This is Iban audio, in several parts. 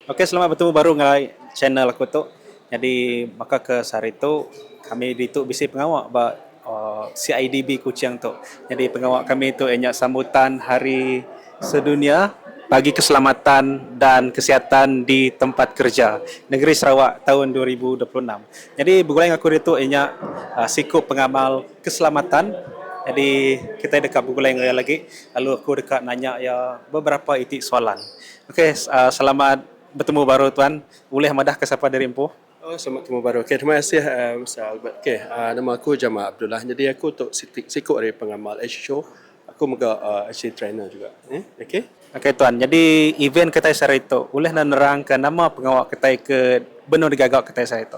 Ok selamat betemu baru ngai channel aku tu nyadi baka ke sehari tu kami ditu bisi pengawa ba CIDB Kuching tu nyadi pengawa kami tu iya nya sambutan hari sedunia bagi keselamatan dan kesihatan di tempat kerja negeri Sarawak taun dua ribu dua puluh enam nyadi begulai enggau aku ditu iya nya siku pengamal keselamatan nyadi kitai deka begulai enggau iya lagi lalu aku deka nanya iya beberapa iti soalan. Ok selamat betemu baru tuan. Ulih madah ke sapa diri empu. Oh selamat betemu baru. Ok terima kasih Mister Albert. Ok nama aku Jamal Abdullah nyadi aku tu siti siku ari pengamal HHO. Aku mega HC trainer juga eh ok. Ok tuan nyadi event kitai sehari tu ulih nenerangka nama pengawa kitai ke benung digaga kitai sehari tu.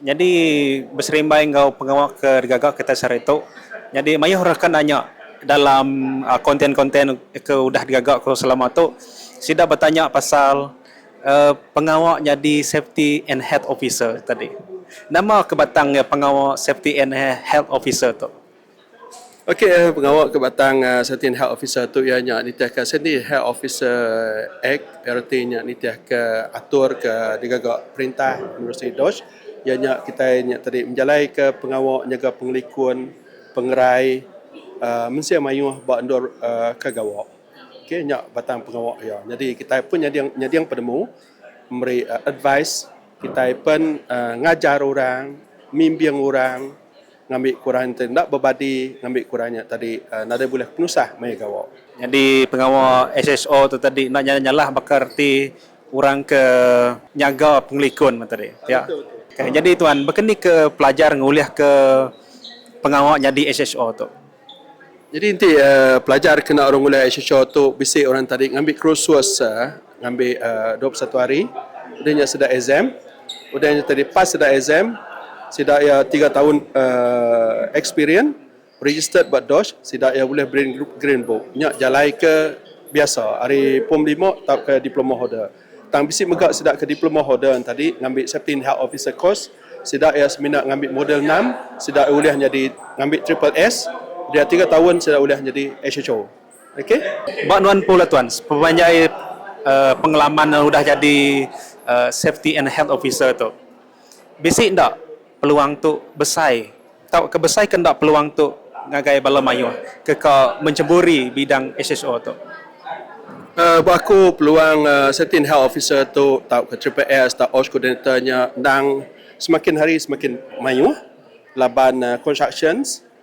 Nyadi beserimbai enggau pengawa ke digaga kitai sehari tu nyadi mayuh rakan nya nya dalam konten-konten ke udah digaga ku selama tu sida betanya pasal uhh pengawa nyadi safety and health officer tadi. Nama ke batang iya pengawa safety and health officer tu. Okey pengawa ke batang Certain Health Officer tu iya nya nitihka siti Health Officer Act reti nya nitihka atur ke digaga perintah menerusi dos iya nya kitai nya tadi menjalaika pengawa nyaga pengelikun pengerai aaa mensia mayuh ba endur aaa ke gawa. Okey nya batang pengawa iya nyadi kitai pun nyadi nyading penemu meri advise kitai pen aaa ngajar orang mimbing orang. Ngambi kurah enti enda bebadi ngambi kurah nya tadi nadai bulih penusah maya gawa. Nyadi pengawa SSO tu tadi enda nyadi nyalah baka reti orang ke nyaga pengelikun meh tadi. Pia. Nyadi tuan, baka ni ke pelajar ngulihka pengawa nyadi SSO tu? Jadi enti pelajar ke enda orang ulih HHO tu bisi orang tadi ngambi kursus ngambi dua puluh satu hari udah nya sida exam udah nya tadi pas sida exam sida iya tiga taun aaa experience registered ba dosh sida iya ulih green book nya jalai ke biasa ari form lima tauka diploma holder. Tang bisi mega sida ke diploma holder nya tadi ngambi safety and health officer course, sida iya semina ngambi modul enam sida ulih nyadi ngambi triple S dia tiga taun sida ulih nyadi HHO. Okay. Ba nuan empu la tuan, sepanjai pengalaman nuan udah jadi safety and health officer tu. Bisi enda peluang tu besai tauka besai ke enda peluang tu ngagai bala mayuh ke ka mencheburi bidang SHO tu? Uhh ba aku peluang uhh safety and health officer tu tauka triple S tauka OSH coordinator nya endang semakin hari semakin mayuh laban uhh constructions.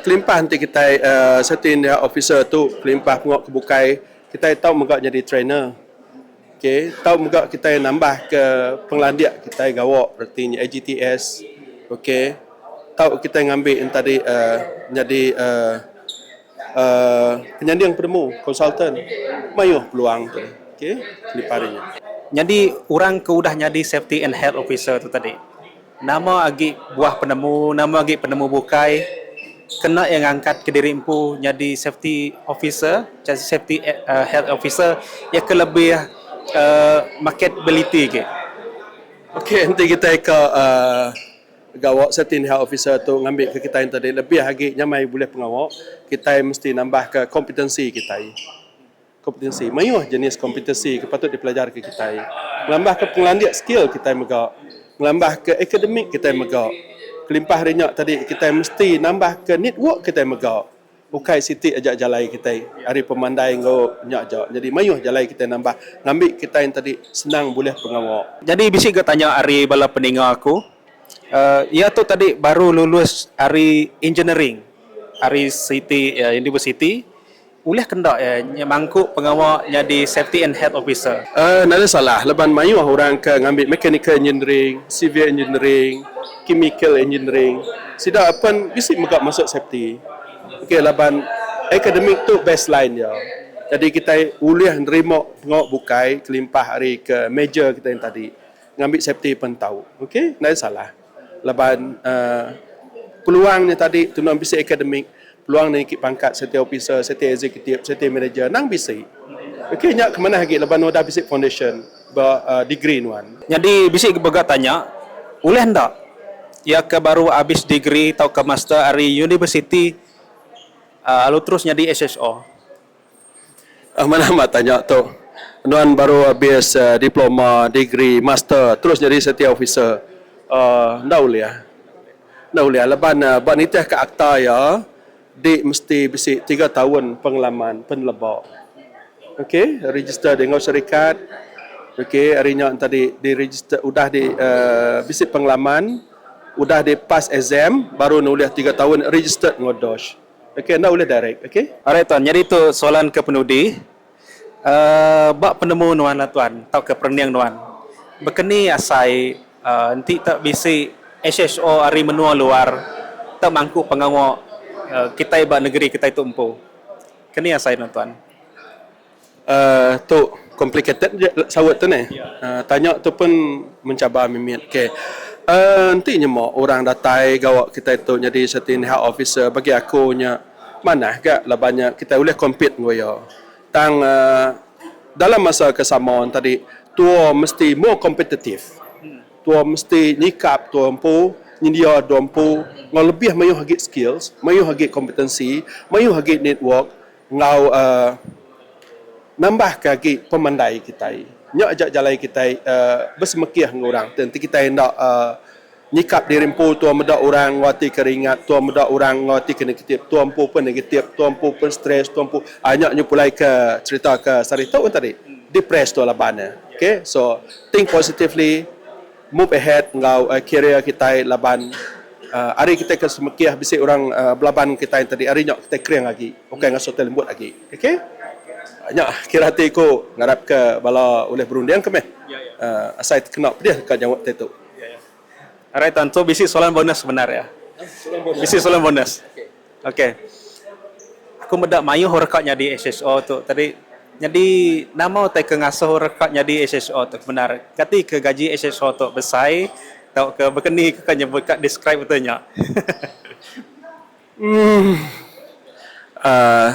Kelimpah enti kitai safety and health officer tu kelimpah pengawa ke bukai, kitai tau mega nyadi trainer. Ok, tau mega kitai nambahka pengelandik kitai gawa reti nya AGTS. Ok, tau kitai ngambi entadi nyadi aaa penyanding penemu, konsultan. Mayuh peluang tu. Ok, kelimpah ari nya. Nyadi orang ke udah nyadi safety and health officer tu tadi. Nama agi buah penemu, nama agi penemu bukai kena iya ngangkat ke diri empu nyadi safety officer, safety health officer iya ke lebih uhh maket ability agi. Ok enti kitai ka uhh gawa safety and health officer tu ngambi ke kitai enti lebih agi nyamai bulih pengawa, kitai mesti nambah ke kompetensi kitai. Kompetensi, Mayuh jenis kompetensi ke patut dipelajarka kitai ngelambahka pengelandik skil kitai mega ngelambahka akademik kitai mega. Kelimpah ari nya tadi kitai mesti nambahka network kitai mega. Ukai siti aja jalai kitai ari pemandai enggau nya aja nyadi mayuh jalai kitai nambah ngambi kitai tadi senang bulih pengawa. Nyadi bisi ga tanya ari bala peninga aku iya tu tadi baru lulus ari engineering ari siti universiti. Ulih ke enda iya nya mangku pengawa nyadi Safety and Health Officer? Nadai salah laban mayuh orang ke ngambi Mechanical Engineering, Civil Engineering, Chemical Engineering sida pen bisi mega masuk safety. Okey laban akademik tu baseline dia. Jadi kitai ulih nerima pengawa bukai kelimpah ari ke major kitai tadi. Ngambi safety pen tau. Okey, nadai salah. Laban peluang nya tadi tunu nya bisi akademik, peluang niki pangkat safety officer, safety executive, safety manager nang bisi. Ukai nya ke manah agi laban udah bisi foundation ba degree nuan. Nyadi bisi mega tanya, ulih enda iya ke baru abis degree tauka master ari universiti lalu terus nyadi SHO? Amat amat tanya tu. Nuan baru abis diploma, degree, master terus nyadi safety officer. Aaa enda ulih. Enda ulih laban ba nitih ka akta iya di mesti bisi tiga taun pengalaman pen leba. Okey register di enggau serikat. Okey ari nya enti tadi di register udah di aaa bisi pengalaman udah di pass exam baru ne ulih tiga taun registered enggau DOSH. Okey enda ulih direct okey. Alright tuan, nyadi tu soalan ke penudi, aaa ba penemu nuan lah tuan tauka perening nuan, bekeni asai aaa enti tau bisi HHO ari menua luar tau mangku pengawa aaa kitai ba negeri kitai tu empu, keni asai nuan tuan. Uhh tu complicated aja saut tu neh. Uhh tanya tu pun mencabar mimit. Ok uhh enti nyema orang datai gawa kitai tu nyadi siti indi health officer bagi aku nya manah ga laban nya kitai ulih compete enggau iya. Tang uhh dalam masa ke sama tadi tua mesti more competitive. Tua mesti nyikap tua empu, nyendia tua empu enggau lebih mayuh agi skills, mayuh agi kompetensi, mayuh agi network. Enggau nambahka agi pemandai kitai. Nya aja jalai kitai besemekih enggau orang ti enti kitai enda nyikap diri empu tua meda orang enggau ati ke ringat, tua meda orang enggau ati ke negatif, tua empu pun negatif, tua empu pun stress, tua empu nya nyepulai ke serita ke sehari tu tadi. Depress tua laban ne. Okay. So, think positively. move ahead enggau career kitai laban ari kitai ke semekih bisi orang belaban enggau kitai enti ari nyau kitai kering agi ukai ngasuh kitai lembut agi ok nya kira ati ku ngarap ke bala ulih berunding ke meh asai tekena pedih deka nyaut ati tu. Alright tuan tu bisi soalan bonus bendar iya. Bisi soalan bonus. Ok. Aku meda mayuh orang ka nyadi HSO tu tadi. Nyadi nama utai ke ngasuh orang ka nyadi HSO tu bendar. Kati ke gaji HSO tu besai tauka bekeni ka nyebut ka describe utai nya. uhh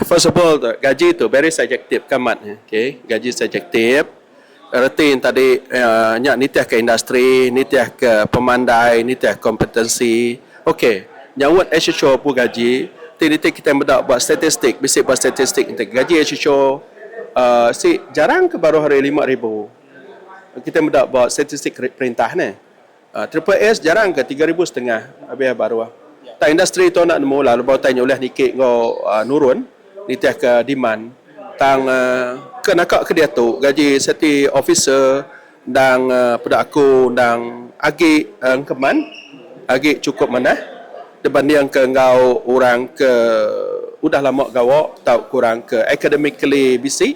first of all gaji tu very subjective ke amat ne. Okay gaji subjective. Reti enti tadi nya nitihka industri, nitihka pemandai, nitihka kompetensi. Okey, nyautt HHO pun gaji ti nitih kitai meda ba statistik, bisi ba statistik nitih gaji HHO si jarang ke baruh ari lima ribu. Kitai meda ba statistik perintah nih. Triple S jarang ke tiga ribu setengah lebih baruh. Tang industri tu enda nemu lalu ba utai nya ulih niki enggau nurun nitih ke demand. Tang ke naka ke diatu gaji safety officer endang peda aku endang agi engkeman agi chukup manah dibanding ke enggau orang ke udah lama gawa tau ke orang ke academically bisi.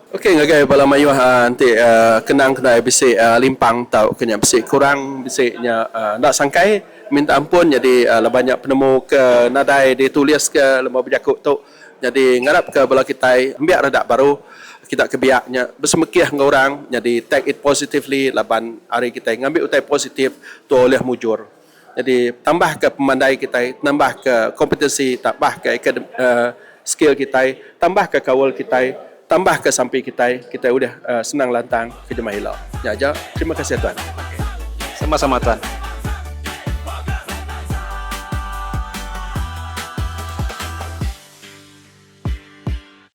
Okey ngagai bala mayuh enti kenang kendai bisi limpang tauka nya bisi kurang bisi nya enda sangkai minta ampun nyadi laban nya penemu ke nadai ditulis ke lema bejaku tu nyadi ngarap ke bala kitai ambiak reda baruh kita ke biak nya besemekih enggau orang nyadi take it positively laban ari kitai ngambi utai positif tuah ulih mujur. Jadi tambah ka pemandai kitai, nambah ka kompetensi, tambah ka skill kitai, tambah ka kaul kitai, tambah ka sampi kitai, kitai ulih senang lantang ke jemah ila. Nya aja. Terima kasih tuan. Sama sama tuan.